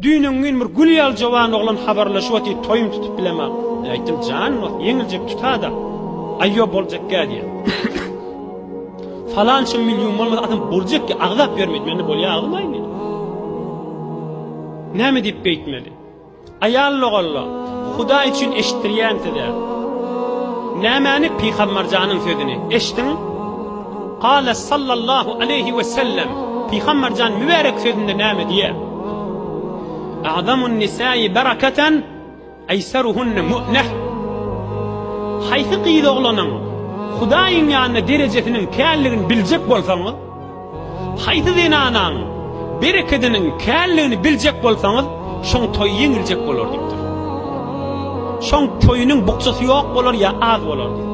Düýn öňňin bir gül ýaly jowan oglan habarlaşyp otyr, toýum tutup bilemok. Aýtdym, jan wah, ýeňiljek tutada. Aýýo boljakgä diýen. Falança million bolmasa adam boljak ki, agzap ýörmeýdi. Mende bolýa agzym aýny. Näme diýip beýtmeli? Aýal logalla, Hudaý üçin eşitdirýän size. Nämäni pygamberjanyň sözüni eşdiň? Kâle sallallahu aleýhi we sellem, Pygamberjan mübärek sözünde näme diýýär? A'zamun nisâi bereketen eýseruhunne mu'neh. Haýsy gyz oglanyň Hudaýyň ýanynda derejesiniň känligini biljek bolsaňyz, haýsy zenanaň berekediniň känligini biljek bolsaňyz, şoň toýy ýeňiljek bolar diýipdir. Şoň toýunyň bukjasy ýok bolar ýa az bolar diýipdir.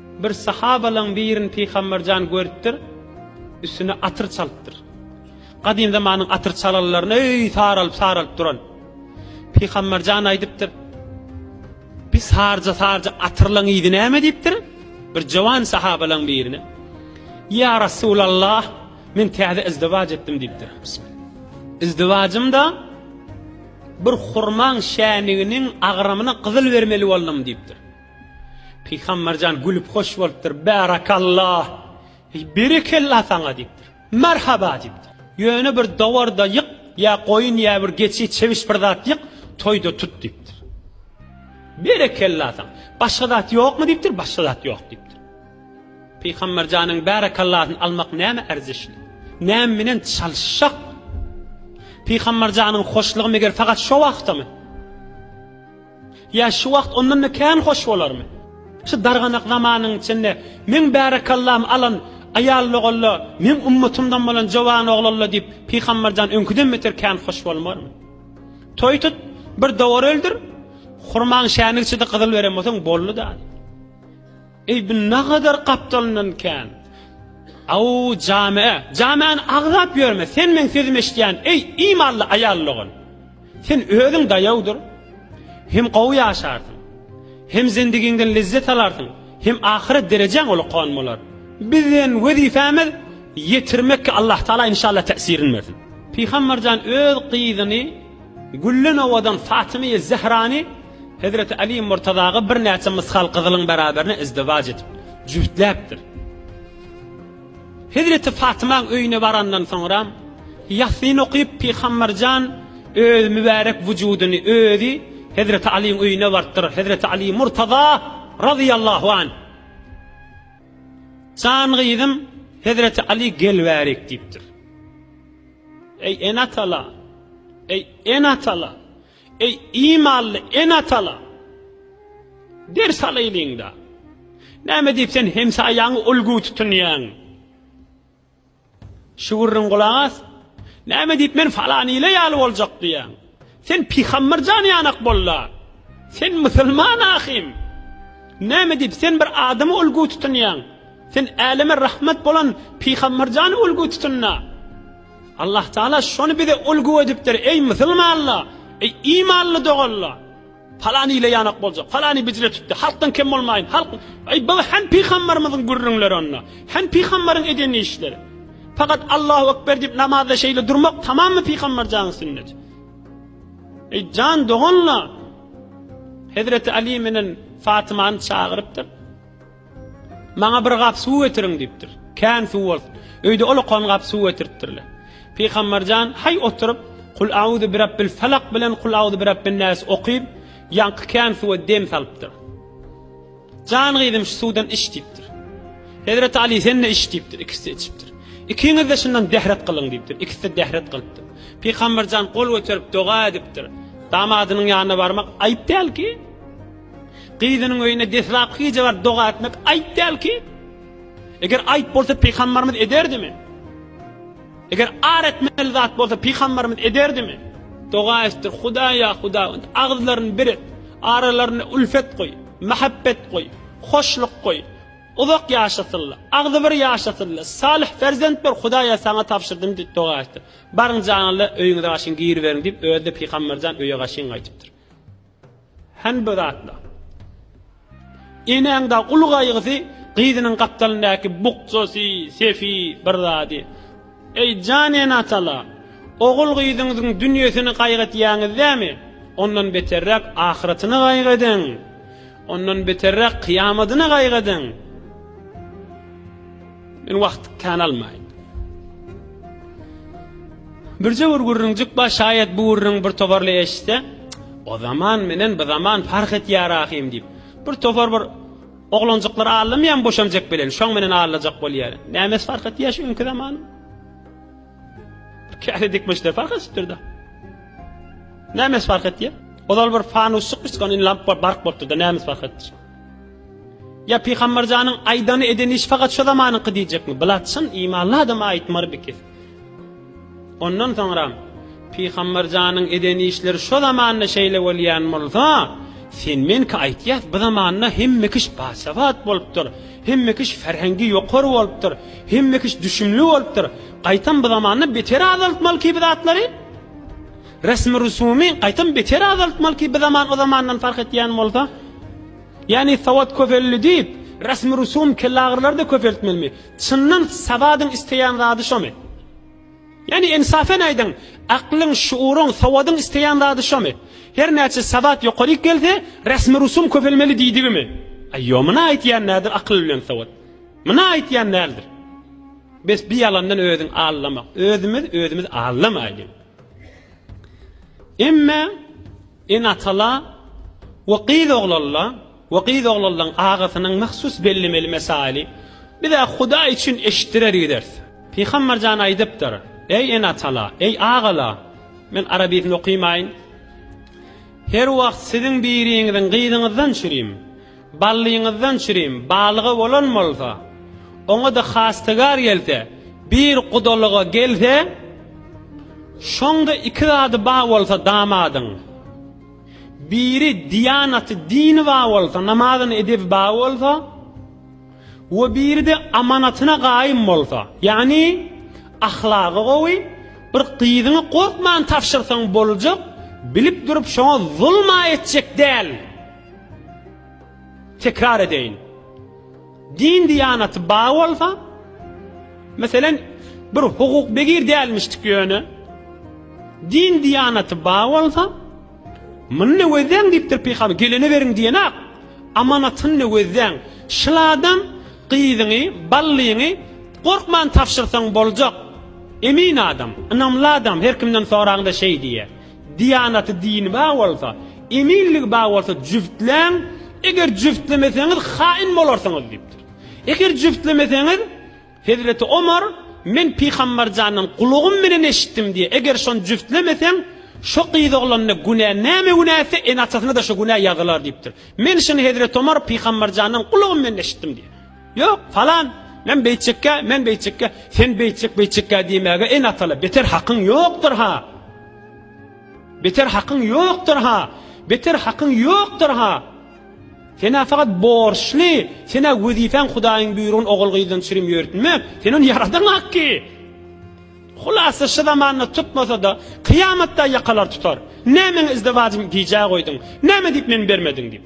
Bir sahabalaň birini Pygamber jan görüpdir, üstüne atyr çalypdyr. Gadym zamanyň atyr çalanlaryny öý saralyp-saralyp duran. Pygamber jan aýdypdyr, Bir sarja-sarja atyrlaň yzy näme diýipdir? Bir jawan sahabalaň birine. Ya Rasulallah, men täze izdiwac etdim diýipdir. Izdivajymda bir hurmaň şäniginiň agramyna gyzyl bermeli boldum diýipdir. Pygamberjan gülüp hoş bolupdyr. Bärakallah. Eý, berekella saňa diýipdir. Merhaba diýipdir. Ýöne bir dowar-da ýyk, ýa goýun, ýa bir geçi, çebiş bir zat ýyk, toýda tut diýipdir. Berekella saňa. Başga zat ýokmy diýipdir. Başga zat ýok diýipdir. Pygamberjanyň bärekallasyny almak näme erzeşli? Näme bilen çalyşjak? Pygamberjanyň hoşlugy meger fakat şo wagtamy? Ýa şu wagt ondan-da kän hoş bolarmy? Şu darganak zamanyň içinde meň bärekallam alan aýallogolla, meň ummatymdan bolan jowanoglalla diýip Pygamberjan öňküden beter kän hoş bolmarmy? Toý tut, bir dowar öldür, hurmaň şäni içidi gyzyl beren bolsaň boldy-da. Eý bu nagadar gapdalyndan kän. Aw jame, jamäni agzap ýörme, sen meň sözümi eşidýän, eý imanly aýal dogan. Sen özüň daýawdyr. Hem gowy ýaşarsyň. Hem zendigiňden lezzet alarsyň, hem ahyret derejäň ulakan bolar. Biziň wezipämiz ýetirmekki Allahtaala inşallah täsirin bersin. Pygamberjan öz gyzyny. Güllen owadan Fatymy-y Zehrany hezreti Aly-y Murtazaga birnäçe mysgal gyzylyň beraberine izdiwaç edip, jübütläpdir. Hezreti Fatymaň öýüne barandan soňram, Ýasyn okyp, Pygamber jan öz mübärek wujudyny özi hezreti Alyň öýüne barypdyr. Hezreti Aly-y Murtaza razyýallahu anh, Jan gyzym, hezreti Aly gelwärik diýipdir. Eý, ene-atalar! Eý, ene-atalar! Eý, imanly ene-atalar! Ders alaýlyň-da! Näme diýip sen hemsaýaňy ulgy tutunýaň? Şu gürrüň gulak as! Näme diýip men falan ile ýaly boljak diýýäň? Sen pygamber jany ýanak bolla. Sen musulman ahim. Näme diýip sen bir adamy ulgu tutunýaň? Sen äleme rahmet bolan pygamber jany ulgu tutunna. Allah Taala şony bize ulgu edipdir. Eý musulmanlar, eý imanly doganlar. Palany ile ýanak boljak, palany bijre tutdy, halkdan kem bolmaýyn, halk, eý, bu hem pygambarymyzyň gürrüňleri onda, hem pygambaryň eden işleri. Fakat Allahu ekber diýip namazda şeýle durmak tamamy pygambarjanyň sünneti. Eý, jan doganlar, Hezreti Ali menen Fatymany çagyrypdyr. Maňa bir gap suw getiriň diýipdir. Kän suw bolsun. Öýde olakan gap suw getiripdirler. Pygamberjan haý oturyp, Kul auzu birabbil falak bilen Kul auzu birabbin nas okyp, ýaňky kän suwa dem salypdyr. Jan gyzym şu suwdan iç diýipdir. Hezreti Ali sen-de iç diýipdir, ikisi içipdir. Ikiňiz-de şundan dehret gylyň diýipdir. Ikisi-de dehret gylypdyr. Pygamberjan gol göterip doga edipdir. Damadynyň ýanyna barmak aýyp dälki? Gyzynyň öýüne deslapky gije baryp doga etmek aýp däl ki? Eger aýp bolsa pygambarymyz ederdimi? Eger ar etmeli zat bolsa pygambarymyz ederdimi? Doga etdir, Hudaý ýa Hudaý, agyzlaryny bir et, aralaryna ülfet goý, mähebbet goý, hoşluk goý, uzak ýaşasynlar, agzybir ýaşasynlar, salyh perzent ber, Hudaýa saňa tabşyrdym diýip doga etdir. Baryň janyňyza öýüňize gaşyň giriberiň diýip özi-de pygamberjan öýe gaşyň gaýdypdyr. Hänbe zatla. Enäň da uly gaýgysy gyzynyň gapdalyndaky bukjasy, sefi bir zady. Eý, jan ene-atala, ogul-gyzyňyzyň dünýesini gaýgytýaňyz dämi? Ondan beterräk ahyratyny gaýgydyň. Ondan beterräk kyýamadyny gaýgydyň. Men wagt kän almaýyn. Birje bir gürrüňjik bar, şaýat bu gürrüň bir toparly eşitse, o zaman menen bu zaman fark etýär ahym diýip. Bir topar bir oglanjyklar allamaýan boşanjak bilen, şoň menen allajak bolýar. Nämes fark etýär şu günki zaman? Käse dikmişler fark etdirdi. Nämes fark etýär? Ozal bir fanusçyk bir lamp bark bolup durdy, nämes fark etdi? Ýa Pygamberjanyň aýdany edeni iş fakat şu zamanyňky diýjekmi? Bilat çyn imanly adama aýtmar bikis. Ondan soňram Pygamberjanyň edeni işleri şu zamanda şeýle bolýan bolsa, sen menki aýtýas bu zamanda hemme kiş basabat bolupdyr. Hemme kiş ferhengi ýokar bolupdyr. Hemme kiş düşümli bolupdyr. Gaýtam bu zamanda beter azaltmaly ki bu zatlary. Resmi-rusumy gaýtam beter azaltmaly ki, bizaman o zamandan parh etýän bolsa. Ýagny sowat köpeldi diýip, resmi-rusum kellagyrylar-da köpeltmelimi? Çyndan sowadyň isleýän zady şomy? Ýagny ensafen aýdyň, aklyň, şuuryň, sowadyň isleýän zady şomy? Her näçe sowat ýokaryk gelse, resmi-rusum köpelmeli diýdigimi? Aý, ýo, myna aýtýan nädir akyl bilen sowat? Myna aýtýan näldir? Bes, bi ýalandan özüň aldama. Özümiz özümiz aldamaýlyň. Emme ene-atala we gyz oglalla we gyz oglallaň agasynyň mahsus bellemeli mesaili biz-ä Hudaý üçin eşitdirer gideris. Pygamber jan aýdypdyr, Eý ene-atala, eý agala, men arabisini okymaýyn, her wagt siziň biriňiziň gyzyňyzdan çürim. Ballyňyzdan çirim balyga bolan bolsa, oňa-da hastygar gelse, bir gudalyga gelse, şoňda iki zady bar bolsa damadyň, biri diýanaty, dini bar bolsa, namazyny edebi bar bolsa we biri-de amanatyna gaýym bolsa, ýagny ahlagy gowy, bir gyzyňy gorkman tabşyrsaň boljak, bilip durup şoňa zulum-a etjek däl. Tekrar edeýin. Din diýanaty bar bolsa, meselen, bir hukuk begir dälmişdik ýöne, din diýanaty bar bolsa, muny nöwezäň diýipdir pygamber, gelene beriň diýenak, amanatyny nöwezäň. Şul adam gyzyňy, ballyňy gorkman tabşyrsaň boljak. Emin adam, ynamly adam, her kimden soraňda şeý diýýär. Diýanaty dini bar bolsa, eminligi bar bolsa jübtläň, eger jübtlemeseňiz haýyn bolarsyňyz diýipdir. Eger jübtlemeseňiz, Hezreti Omar, men Pygamberjandan gulagym bilen eşitdim diýe, eger şony jübtlemeseň, şo gyz oglanyna günä näme günä etse, ene-atasyna-da şo günä ýazylar diýipdir. Men şuny Hezreti Omar Pygamberjandan gulagym bilen eşitdim diýe. Ýok, falan, men beýtjekkä, men beýtjekkä, sen beýtjek, beýtjekkä diýmäge en atala beter hakyň ýokdur-ha! Beter hakyň ýokdur-ha! Beter hakyň ýokdur-ha! Sen-ä fakat borçly, sen-ä wezipäň Hudaýyň buýrugyny ogul-gyzdan çürim ýörtmek, sen ony ýaradaňak ki! Hulasa şu zamanda tutmasa-da, kyýamatda ýakalar tutar. Nämäň izdewajym gijä goýduň, näme diýip men bermediň diýip.